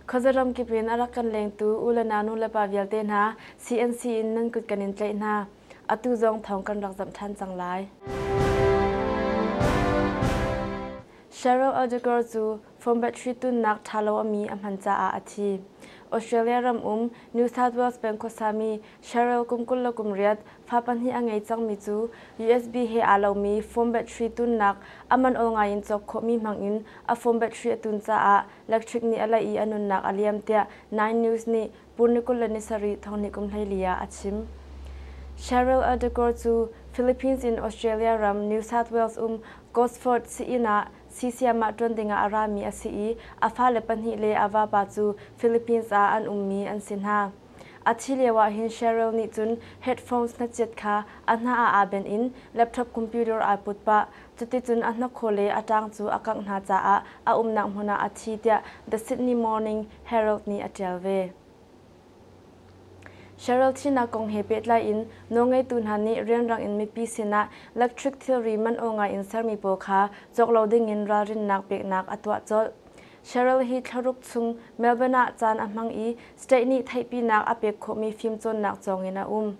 Khuazaram kip in a rak kan lengtu u le nau nulepa vialte hna CNC in nan kut kan in tlaih hna. Atu zong thawng kan rak zamh ṭhan cang lai. Cheryl Odegar cu Foam battery tunnak ṭhalo a mi a hman caah a thi. Australia ram um New South Wales peng khuasami Cheryl kum kul le kum riat fa pahnih a ngei cangmi cu USB he aa lomi foam battery tunnak a man aw ngai in cawk khawhmi hmangin a foam battery a tun caah electric nih a laih i a nunnak a liam tiah Nine News nih pur ni kul le ni sarih thongnih kum hleili ah a chim. Cheryl Erdegor cu Philippines in Australia ram New South Wales um Gosford sii-inn ah Sisiam ah ṭuan dingah a rami a si i a fale pahnih le a vapa cu Philippines ah an ummi an si hna. A thih lioah hin Cheryl nih cun headphones hnachiat kha a hna ah aa benh in laptop computer aa put pah. Cuticun a hnakhaw le a ṭaang cu a kangh hna caah a umnak hmun ah a thi tiah The Sydney Morning Herald nih a ṭial ve. Cheryl thihnak kong he pehtlai in nawlngeitu hna nih rianrang in mipi sinah electric thilri man aw ngai in sermi pawl kha cawk lo dingin ralrinnak peknak a tuah colh. Cheryl hi thla ruk chung Melbourne ah caan a hmang i state nih theihpinak a pek khawhmi fimcawnnak cawng in a um.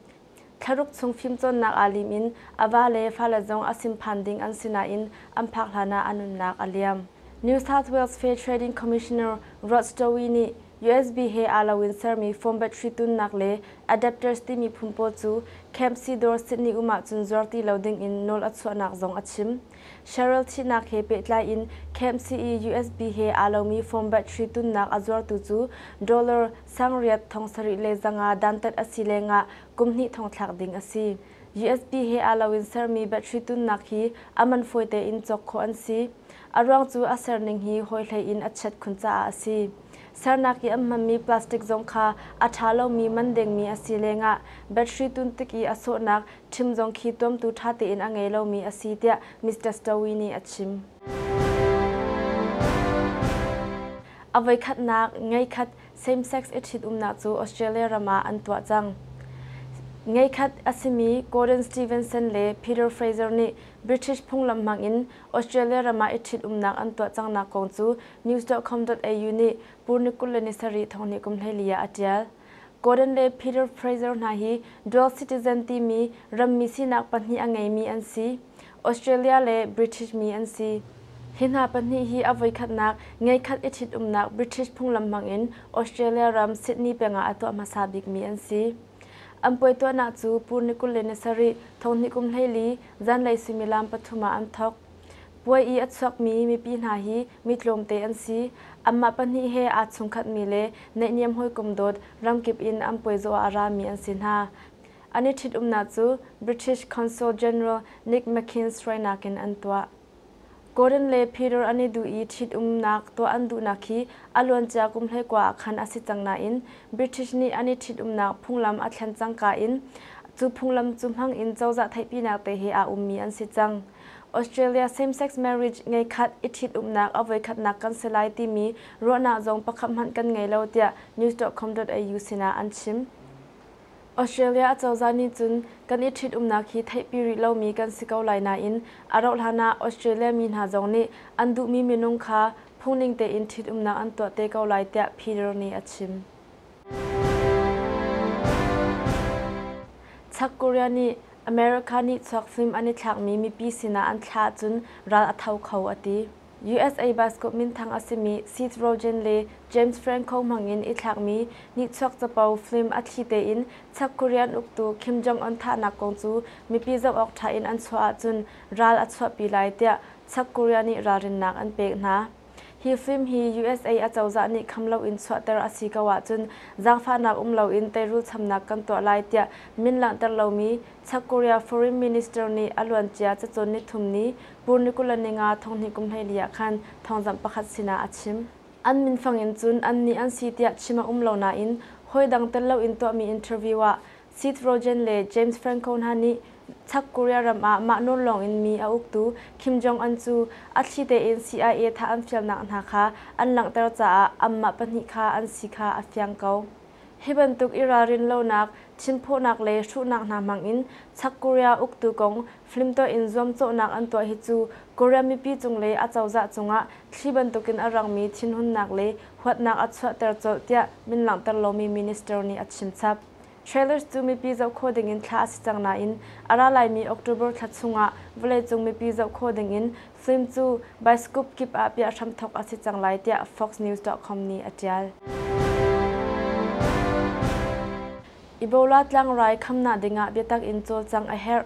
Thlaruk chung fimcawnnak aa lim in a va le fale zong a simphan ding an si nain an phak hlanah a nunnak a liam. New South Wales Fair Trading Commissioner Rod Stowe nih USB he aa loin sermi foam battery tunnak le adapters timi phun pawl cu Camp Sidor Sydney um ahcun zuar ti lo dingin nawl a chuahnak zong a chim. Cheryl thihnak he pehtlai in Camp CE USB he aa lomi foam battery tunnak a zuartu cu dollar sang riat thong sarih le zanga dantat a si lengah kum hnih thong thlak ding a si. GSP he aa loin sermi battery tunnak hi a man fawi tein cawk khawh an si. A ruang cu a serning hi hawi hlei in a chiat khun caah a si. Sernak i an hmanmi plastic zong kha a ṭha lomi man dengmi a si lengah battery tun tik i a sawhnak ṭhim zong khi tuamtu ṭha tein a ngei lomi a si tiah Mister Stowe nih a chim. A voikhatnak ngeikhat same-sex i ṭhitumnak cu Australia ram ah an tuah cang. Ngeikhat a simi Gordon Stevenson le Peter Fraser nih British phunglam hmang in Australia ram ah i ṭhitumnak an tuah cangnak kong cu News.com.au nih Purni kul le ni sarih thonghnih kum hleili ah a ṭial. Gordon le Peter Fraser hna hi dual citizen timi rammi sinak pahnih a ngeimi an si, Australia le British mi an si. Hi hna pahnih hi a voikhatnak ngeikhat i ṭhitumnak British phunglam hmangin Australia ram Sydney pengah a tuah hmasa bikmi an si. An puai tuahnak cu Pur ni kul le ni sarih, thawhni kum hleili, zanlei suimilam pathum ah an thawk. Puai i a chuakmi mipi hna hi mi tlawmte an si. Anmah pahnih he aa chungkhatmi le naihniam hawikom dawt ramkip in an puaizaw ah a rami an si hna. An i ṭhitumnak cu British Consul General Nick McKinns hruainak in an tuah. Gordon le Peter an i duh i ṭhitumnak tuah an duhnak hi a luancia kum hleikua ah khan a si cang nain British nih an i ṭhitumnak phunglam a thlen cangka in cu phunglam cu hmang in cozah theihpinak te he aa ummi an si cang. Australia same-sex marriage ngei khat i ṭhitumnak a voikhatnak kan si lai timi ruahnak zong pakhat hmanh kan ngei lo tiah news.com.au sinah an chim. Australia acozah nih cun kan i ṭhitumnak hi theihpi rih lomi kan si ko lai nain a rauhhlan ah Australia mi hna zong nih an duhmi minung kha phungning tein ṭhitumnak an tuah te ko lai tiah Peter nih a chim. South Korea nih America nih chuakhlim an i thlakmi mipi sinah an thlah ahcun ral a tho kho a ti. USA basketball minthang a simi Seth Rogen le James Franco hmangin i thlakmi nihchuak capo film a thli tein South Korean uktu Kim Jong-un thahnak kong cu mipi zoh awk ṭha in an chuah ahcun ral a chuahpi lai tiah South Korea nih ralrinnak an pek hna. Hi fim hi usa a cozah nih kham loin chuahter a si ko ahcun zaangfahnak um loin teirul chamnak kan tuah lai tiah min langhter lomi South Korea Foreign Minister nih a luancia cacawn nithum ni Purniculaninga thonghnih kum hleili ah khan thawngzamh pakhat sinah a chim. An minfang in cun annih an si tiah chim a um lo nain hawi dang tel loin tuahmi interview ah Seth Rogen le James Franco hna nih South Korea ram ah mah nawn lawng in mi a uktu Kim Jong-un cu a thli tein CIA thah an fialnak hna kha an langhter caah anmah pahnih kha an si kha a fiang ko. Hi bantuk i ralrin lonak, thinphawhnak le hruhnak hna hmang in South Korea uktu kong flimtuah in zuamcawhnak an tuah hi cu Korea mipi cung le a cozah cungah thli bantuk in a rangmi thinhunnak le huatnak a chuahter colh tiah min langhter lomi minister nih a chimchap. Trailers cu mipi zoh khawh dingin thlah a si cang nain a ra laimi October thla chungah vawleicung mipi zoh khawh dingin film cu Baiskup kip ah piah hramthawk a si cang lai tiah foxnews.com nih a ṭial. Ebola tlangrai khamnak dingah biatak in cawlcangh a herh.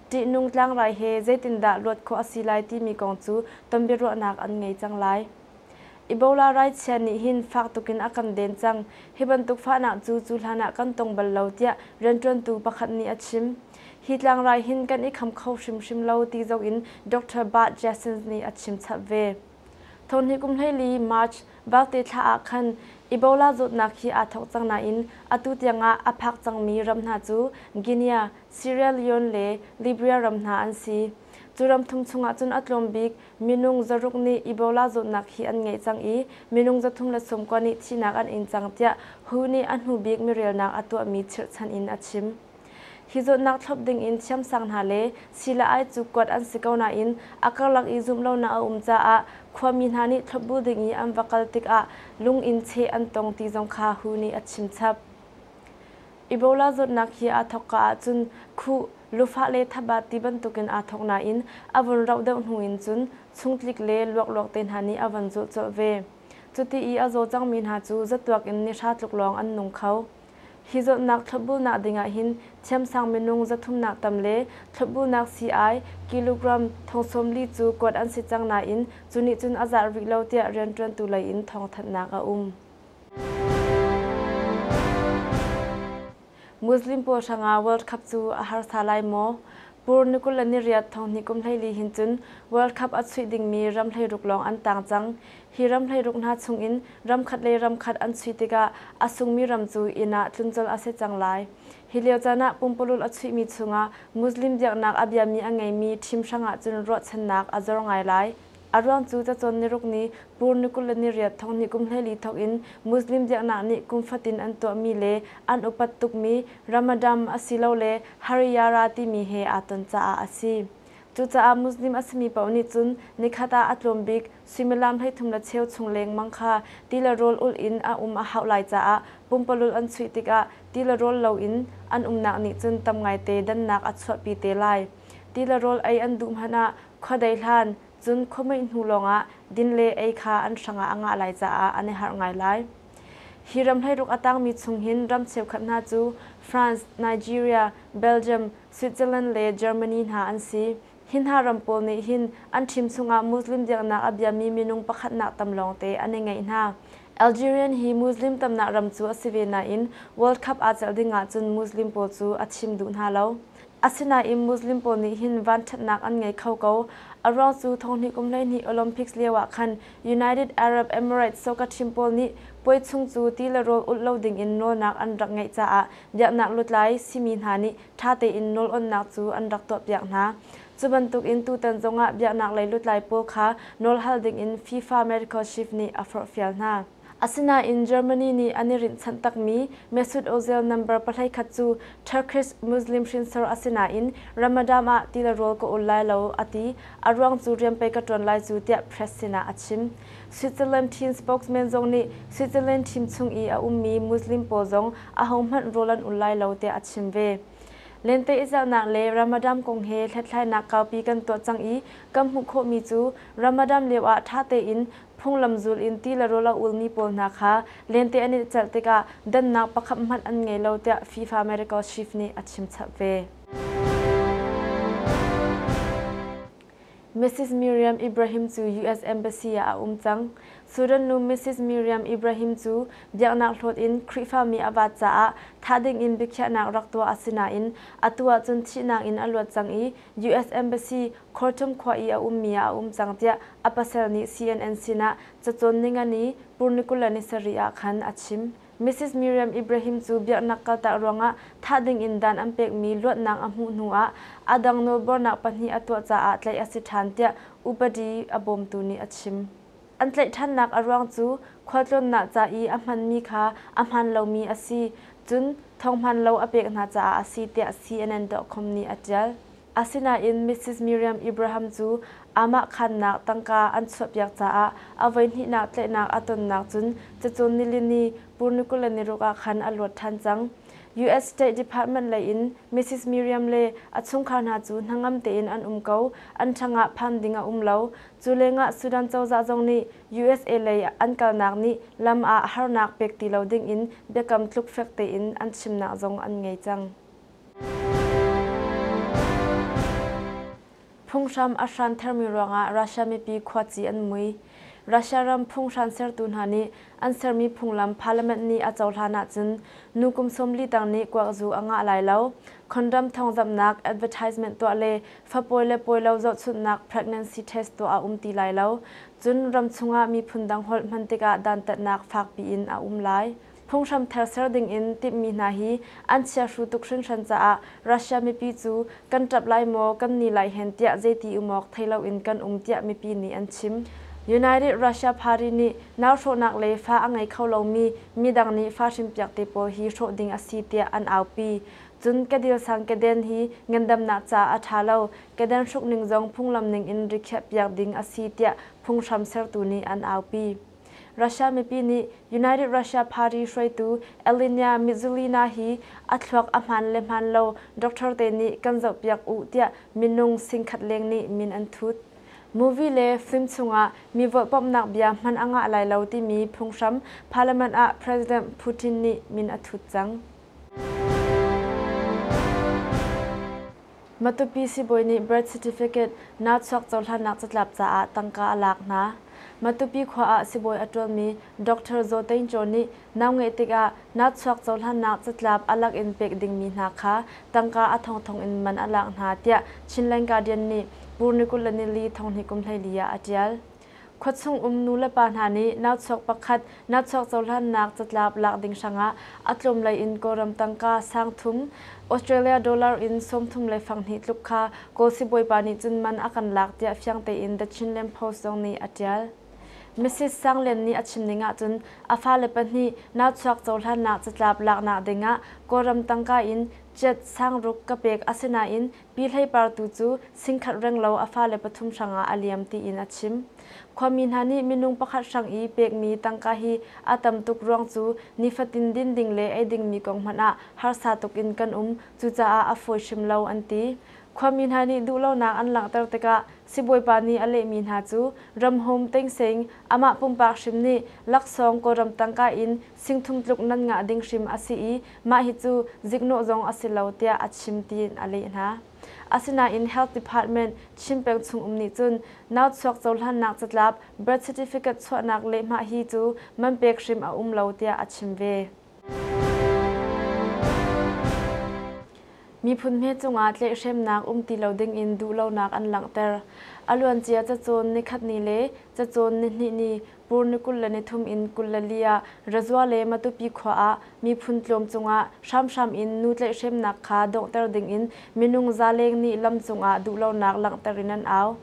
Ṭihnung tlangrai he zeitindah luat khawh a si lai timi kong cu tonbiaruahnak an ngei cang lai. Ebola raichia nih hin fak tuk in a kan den cang. Hi bantuk fahnak cu cu hlan ah kan tong bal lo, tiah rianṭuantu pakhat nih a chim. Hi tlangrai hin kan i kham kho hrimhrim lo ti zong in Doctor Bart Jessens nih a chim chap ve. Thonhnih kum hleili, March, Balte thla ah khan Ebola zawtnak hi aa thawk cang nain atu tiang ah a phak cangmi ram hna cu Guinea, Sierra Leone le Libya ram hna an si. Cu ram thum chungah cun a tlawm bik minung zaruk nih Ebola zawtnak hi an ngeih cang i minung zathum le sawm kua nih thihnak an ing cang tiah who nih a hnu bik mirelnak a tuahmi chirhchan in a chim. Hi zawtnak thlawp ding in thiamsang hna le sii-le-ai cu kuat an si ko nain a karlak i zumhlonak a um caah khuami hna nih thlawp bu ding i an va kal tikah lung in cheh an tong ti zong kha who nih a chim chap. Ebola zawtnak hi aa thawkka ahcun khuh, lufah le thabat ti bantukin aa thawk nain a vun rauh deuh hnu in cun chungtlik le luakluak te hna nih a von zulh colh ve. Cuti i a zaw cangmi hna cu zatuak in nihra tluk lawng an nung kho. Hi zawtnak thlawpbunak dingah hin thiamsang minung zathumnak tam le thlawpbunak sii-ai, kilogram, thong sawm li cu kuat an si cang nain cu nih cun a zarh rih lo tiah rianṭuantu lei in thawngthanhnak a um. Muslim pawl hranga World Cup cu a harsa lai maw? Pur ni kul le ni riat thong hnih kum hleili hin cun World Cup a chuih dingmi ram hleiruk lawng an tang cang. Hi ram hleiruk hna chungin ramkhat le ramkhat an chuih tikah a sungmi ram cu inn ah tluncolh a si cang lai. Hi lio caan ah pumpulul a chuihmi chungah Muslim biaknak a biami a ngeimi thim hrang ahcun ruahchannak a zor ngai lai. A ruang cu cacawn niruk ni Pur ni kul le niriat thong ni kum hleli thawk in Muslim biaknak nih kum fatin an tuahmi le an upat tukmi Ramadam asilole Hariyara timi he aa ton caah a si. Cucaah Muslim a simi paoh nih cun nikhat ah a tlawm bik suimilam hleithum le cheu chung lengmang kha ti le rawl ulh in a um a hauh lai caah pumpalulh an chuih tikah ti le rawl lo in an umnak nih cun tam ngaite dannak a chuahpi te lai. Ti le rawl ei an duh hmanh ah Khuadei hlan, cun khuamuih hnu lawngah din le ei kha an hrangah a ngah lai caah an i harh ngai lai. Hi ram hleiruk a tangmi chung hin ram cheukhat hna cu France, Nigeria, Belgium, Switzerland le Germany hna an si. Hi hna ram pawl nih hin an thim chungah Muslim biaknak a biami minung pakhatnak tam lawngte an i ngeih hna. Algerian hi Muslim tamnak ram cu a si ve nain World Cup aa celh ding ahcun Muslim pawl cu a thim duh hna lo. Asinain Muslim pawl nih hin vanṭhatnak an ngei kho ko. A ruang cu thonghnih kum hleihnih Olympics lio ah khan United Arab Emirates soccer-team pawl nih puai chung cu ti le rawl ulh lo dingin nawlnak an rak ngeih caah biaknak lutlai simi hna nih ṭha tein nawl onnak cu an rak tuahpiak hna. Cu bantukin tutan zongah biaknaklei lutlai pawl kha nawl hal dingin FIFA medical chief nih a forhfial hna. Asinain Germany nih an i rinhchanh takmi Mesut Ozil number pahlei khat cu Turkish Muslim hrinsor a si nain Ramadan ah ti le rawl ka ul lai lo a ti, a ruang cu rian pei ka ṭuan lai cu tiah press sinah a chim. Switzerland team spokesman zong nih Switzerland team chung i a ummi Muslim pawl zong ahohmanh rawl an ul lai lo tiah a chim ve. Lenteihzelhnak le Ramadan kong he hlethlainak kaupi kan tuah cang i kan hmuh khawhmi cu Ramadan lioah ṭha tein Phunglam zul in ti le rawl a ulmi pawl hna kha lente an in celh tikah dannak pakhat hmanh an ngei lo tiah FIFA America chief nih a chimchap ve. Mrs Miriam Ibrahim cu US Embassy ah a um cang. Sudan nu Mrs Miriam Ibrahim cu biaknak hlawt in Khrihfami a vaat caah thah ding in biakhiahnak rak tuah a si nain atu ahcun thihnak in a luat cang i US Embassy Khartum khua i a ummi ah a um cang tiah a pasal nih CNN sinah cacawn ningani Purnikula ni sarih ah khan a chim. Misis Miriam Ibrahim cu biaknak kaltak ruangah thah dingin dan an pekmi luatnak a hmuh hnuah aa dang nawlbuarnak pahnih a tuah caah tlaih a si ṭhan tiah upadi a bawmtu nih a chim. An tlaih ṭhannak a ruang cu khualtlawnnak ca i a hmanmi kha a hmaan lomi a si, cun thawng hmaan lo a pek hna caah a si tiah CNN.com nih a ṭial. Asinain Mrs. Miriam Ibrahim cu aamah khaannak tangka an chuahpiak caah a voihnihnak tlaihnak a tonnak cun cacun nilini Purnukul le niruk ah khan a luat ṭhan cang. US State Department lei in Mrs. Miriam le a chungkhar hna cu hnangam tein an um ko, an ṭhangah phan ding a um lo. Cu lengah Sudan cozah zong nih usa lei an kalnak nih lam ah harnak pek ti lo ding in biakam tluk fek tein an chimnak zong an ngei cang. Phunghram a hranthermi ruangah Russia mipi khuaci an mui. Russia ram phunghran sertu hna nih an sermi phunglam parliament nih a cohlan ahcun nu kum sawmli tang nih kuakzu a ngah lai lo. Condom thawngzamhnak, advertisement tuah le fapawi le pawilo zohchunhnak pregnancy test tuah a um ti lai lo. Cun ram chungah miphun dang holh hman tikah dantatnak fakpi in a um lai. Phunghram ther ser dingin timhmi hna hi an chiahru tuk hrinhran caah Russia mipi cu kan ṭap lai maw, kan ni lai hen tiah zeiti umawk thei loin kan um tiah mipi nih an chim. United Russia Party nih nauhrawhnak le fa a ngei kho lomi midang nih fa hrinpiak te pawl hi hrawh ding a si tiah an aupi. Cun Kadilsang Keden hi ngandamnak caah a ṭha lo, Keden hruk ning zong phunglam ningin rikhiah piak ding a si tiah phunghram sertu nih an aupi. Russia mipi nih United Russia Party hruaitu Ellynia Mizzolina hi a thluak a hmaan le hmaan lo doctor te nih kan zohpiak uh tiah minung singkhat leng nih min an thut. Movie le film chungah mi volhpamhnak bia hman a ngah lai lo timi phunghram Parliament ah President Putin nih min a thut cang. Matupi sibawi nih birth certificate naa chuak cohlannak catlap caah tangka a lak hna. Matupi khua ah sibawi a ṭuanmi Doctor Zaw Tein Caw nih nau ngeih tikah naa chuak cohlannak catlap a lak in pek dingmi hna kha tangka a thongthong in man a lak hna, tiah Chin Languardian nih Pu Nikulh le Nili Thonghni kum hleili ah a ṭial. Khuachung um nulepa hna nih nauchuak pakhat nauchuak cohlannak catlap lak ding hrangah a tlawmlei in Kawlram tangka sang thum Australia dollar in sawmthum le fanghnih tluk kha Kawl sibawipa nih cun man a kan lak tiah fiang tein The Chinland Post zong nih a ṭial. Misis Sang Lian nih a chim ning ahcun a fale pahnih nauchuak cohlannak catlap laknak dingah Kawlram tangka in jet sang ruk ka pek asinain Pi Hlei Par tu cu singkhat renglo a fale pathum hrangah a liam tiin a chim. Khuami hna nih minung pakhat hrang i pekmi tangka hi a tam tuk ruang cu nifatin din ding le ei dingmi kong hmanh ah harsa tuk in kan um, cucaah a fawi hrim lo an ti. Khuami hna nih duhlonak an langhter tikah sibawipa nih a lehmi hna cu Ram Home Teng Seng, amah pumpak hrim nih laksawng Kawlram tangka in singthung tluk nan ngah ding hrim a si i Mah hi cu ziknawh zong a si lo tiah a chim tiin a leh hna. Asinain Health Department Chin peng chung um nih cun nauchuak cohlannak catlap birth certificate chuahnak lehhmah hi cu man pek hrim a um lo tiah a chim ve. Miphun hme cungah tlaihhremnak um ti lo dingin duhlonak an langhter. A luancia cacawn nikhatni le cacawn nihnih ni Pur ni kul le nithum in kul le li ah Razua le Matupi khua ah miphun tlawm cungah hramhram in nu tlaihhremnak kha donghter dingin minung zaleng nih lam cungah duhlonak langhter in an au.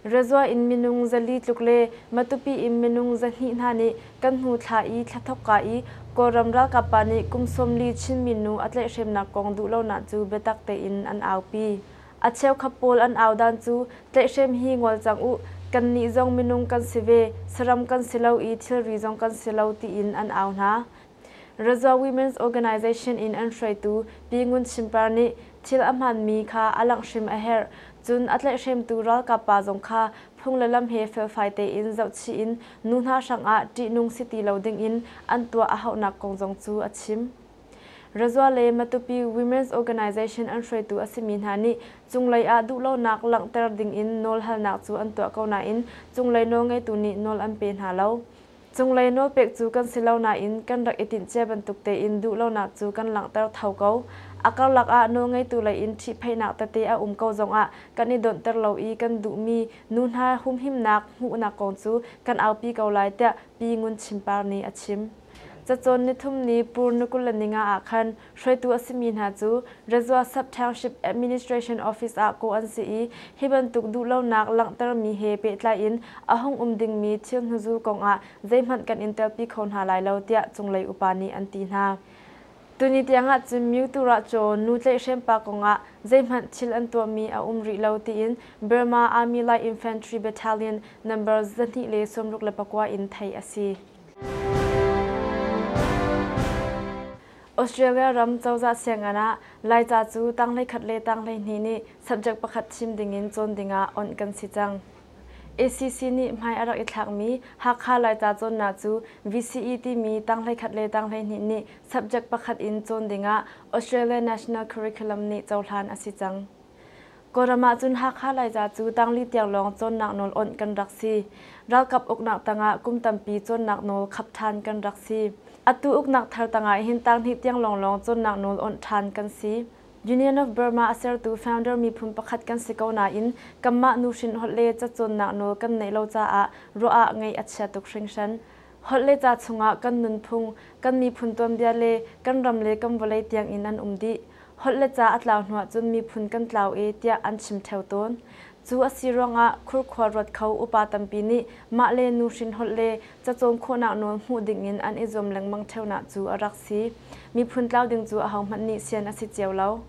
Razua in minung zali tluk le Matupi in minung zahnih hna nih kan hnu thla i thla thawkka i Kawlram ralkap pa nih kum sawm li Chinmi nu a tlaihhremnak kong duhlonak cu biatak tein an aupi. A cheukhat pawl an au dan cu tlaihhrem hi ngol cang u, kannih zong minung kan si ve, saram kan si lo i thilri zong kan si lo tiin an au hna. Razor Women's Organization in an hruaitu Pi Ngun Chin Par nih thil a hmaanmi kha a langh hrim a herh, cun a tlaihhremtu ralkap pa zong kha phung le lam he felfai tein zohchih in nu hna hrangah ṭihnung si ti lo dingin an tuah a hauhnak kong zong cu a chim. Razua le Matupi Women's Organisation an hruaitu a simi hna nih cunglei ah duhlonak langhter ding in nawl halnak cu an tuah ko nain cunglei nawlngeitu nih nawl an pe hna lo. Cunglei nawlpek cu kan si lo nain kan rak i tinhcia bantuk tein duhlonak cu kan langhter tho ko. A karlak ah nawlngeitu lei in ṭhihphaihnak tete a um ko zongah kan i dawnhter lo i kan duhmi nu hna humhimnak hmuhnak kong cu kan aupi ko lai tiah Pi Ngun Chim Par nih a chim. Cacawn nithum ni Purnikulanninga ah khan hruaitu a simi hna cu Rezua Sub-Township Administration Office ah kawh an si i hi bantuk duhlonak langhtermi he pehtlai in a hung um dingmi thil hnuzul kong ah zeihmanh kan in telpi kho hna lai lo tiah cunglei upa nih an ti hna. Tuni tiang ahcun Myuturachaw nu tlaihhrem pa kong ah zeihmanh thil an tuahmi a um rih lo tiin Burma Army Light Infantry Battalion Numbers zahnih le sawmruk le pakua in theih a si. Australia ram cozah siangan ah Laica cu tanglei khat le tanglei hnih nih subject pakhat chim dingin cawn dingah awnh kan si cang. ACC nih hmai a rak i thlakmi Hakha Laica cawnnak cu VCE timi tanglei khat le tanglei hnih nih subject pakhat in cawn dingah Australia National Curriculum nih cohlan a si cang. Kawlram ahcun Hakha Laica cu tangli tiang lawng cawnnak nawl awnh kan rak si. Ralkap uknak tangah kum tampi cawnnak nawl khap ṭhan kan rak si. Atu uknak thar tangah hin tanghnih tiang lawnglawng cawnnak nawl awnh ṭhan kan si. Union of Burma a sertu founder miphun pakhat kan si ko nain kanmah nuhrin holh le cacawnnak nawl kan neih lo caah ruah ah ngaih a chia tuk hringhran. Holh le ca chungah kan nunphung, kan miphun tuanbia le kan ram le kan vawlei tiangin an um dih. Holh le ca a tlau hnu ahcun miphun kan tlau e tiah an chim theo tawn. Cu a si ruangah khurkhua ruat kho upa tampi nih mah le nuhrin holh le cacawn khawhnak nawl hmuh dingin an i zuam lengmang theunak cu a rak si. Miphun tlau ding cu ahohmanh nih sian a si cio lo.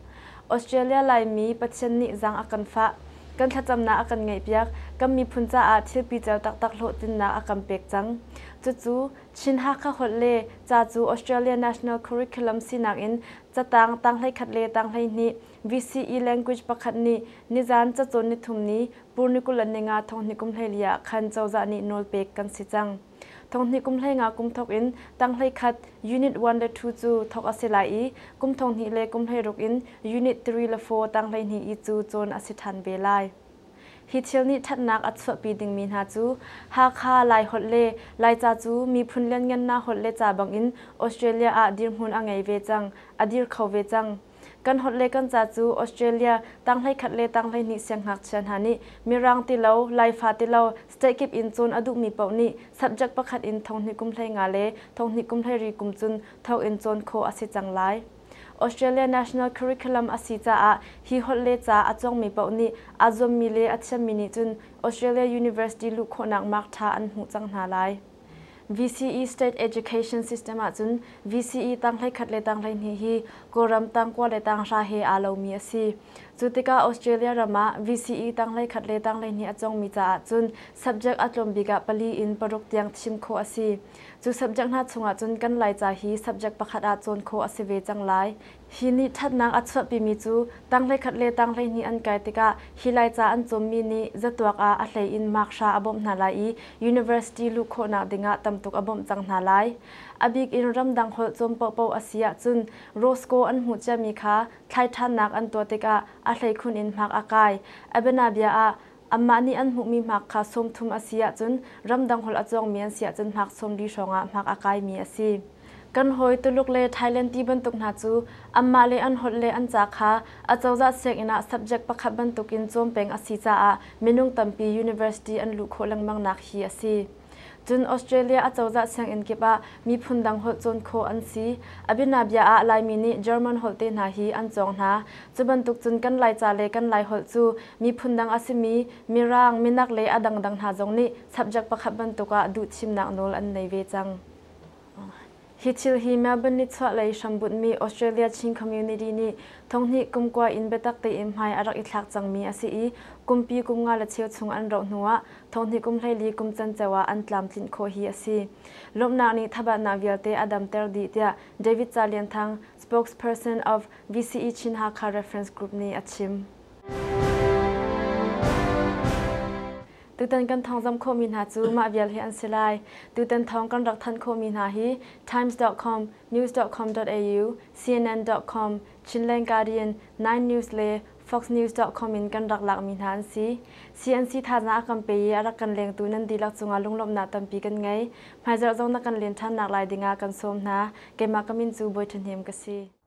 Australia Laimi Pathian nih zang a kan fah. Kan thlacamnak a kan ngaihpiak. Kan miphun caah thilpicer taktak hlawhtlinnak a kan pek cang. Cucu, Chin Hakha holh le ca cu Australia National Curriculum sinak in catang tang hleikhat le tang hleihnih VCE language pakhat nih nizan cacawn nithum ni Purnikul a ni nga thonghnikum hleili ah khan cozah nih nawl pek kan si cang. Thonghnih kum hlengah kum thok in tanghhlei khat Unit one le two cu thok a si lai i kum thonghnih le kum hleiruk in Unit three le four tanghleihnih i cu cawn a si ṭhan ve lai. Hi thil nih ṭhatnak a chuahpi dingmi hna cu Hakha, Laiholh le Laica cu miphun lianngannak holh le ca bangin Australia ah dirhmun a ngei ve cang, a dir kho ve cang. Kan holh le kan ca cu Australia tanghleikhat le tanghleihnih sianghngakchia hna nih mirang ti lo, Laifa ti lo, state kip in cawn a duhmi paoh nih subject pakhat in thonghnih kum hlei nga le thonghnih kum hlei ri kum cun thawkin cawn khawh a si cang lai. Australia national curriculum a si caah hi holh le ca a cawngmi paoh nih aa zuammi le a thiammi nih cun Australia University luh khawhnak mark ṭha an hmuh cang hna lai. VCE State Education System ahcun VCE tang hleikhat le tang hleihnih hi Kawlram tangkua le tanghra he aa lomi a si. Cu tikah Australia ram ah VCE tang hleikhat le tang hleihnih a cawngmi caah cun subject a tlawm bik ah pali in paruk tiang thim khawh a si. Cu subject hna chungah cun kan Laica hi subject pakhat ah cawn khawh a si ve cang lai Hi nih ṭhatnak a chuahpimi cu tang hleikhat le tang hleihnih an kai tikah hi Laica an cawmmi nih zatuak ah a hlei in mark hra a bawmh hna lai i university luh khawhnak dingah tamtuk a bawmh cang hna lai. A bik in ramdang holh cawn paohpaoh a si ahcun Roscoe an hmuh ciami kha thlai ṭhannak an tuah tikah a hlei khun in mark a kai. Abena bia ah, Anmah nih an hmuhmi hmak kha sawmthum a si ahcun ramdang holh a cawngmi an si ahcun hmak sawmli hrawngah hmak aa kaimi a si. Kan hawi Tuluk le Thailand ti bantuk hna cu anmah le an holh le an ca kha acozah sianginn ah subject pakhat bantukin cawm peng a si caah minung tampi university an luh khawh lengmangnak hi a si. Cun Australia acozah sianginn kip ah miphun dang holh cawn khawh an si. Abinabia ah Laimi nih German holh te hna hi an cawng hna. Cu bantuk cun kan Laica le kan Laiholh cu miphun dang a simi Mirang, Minak le a dangdang hna zong nih subject pakhat bantuk ah duhthimnak nawl an nei ve cang. Hi thil hi Melbourne nichuahlei hrambunhmi Australia Chin Community nih thonghnih kum kua in biatak tein hmai a rak i thlak cangmi a si i kumpi kum nga le cheu chung an rauh hnu ah thonghnih kum hleili kum canceo ah an tlamtlinh khawh hi a si. Lawmhnak nih thabatnak vialte a damter dih tiah David Ca Lian Thang, spokesperson of VCE Chin Hakha Reference Group nih a chim. Tutan kan thawng zam khawhmi hna cu mah vial hi an si lai. Tutan thawng kan rak thanh khawhmi hna hi Times.com, News.com.au, CNN.com, Chinland Guardian, Nine News le Fox News.com in kan rak lakmi hna an si. CNC thazaang a kan pe i a rak kan lengtu nan dihlak cungah lunglawmhnak tampi kan ngei. Hmaizarh zong na kan len ṭhannak lai dingah kan sawm hna. Keimah ka min cu Bawi Ṭhahnem ka si.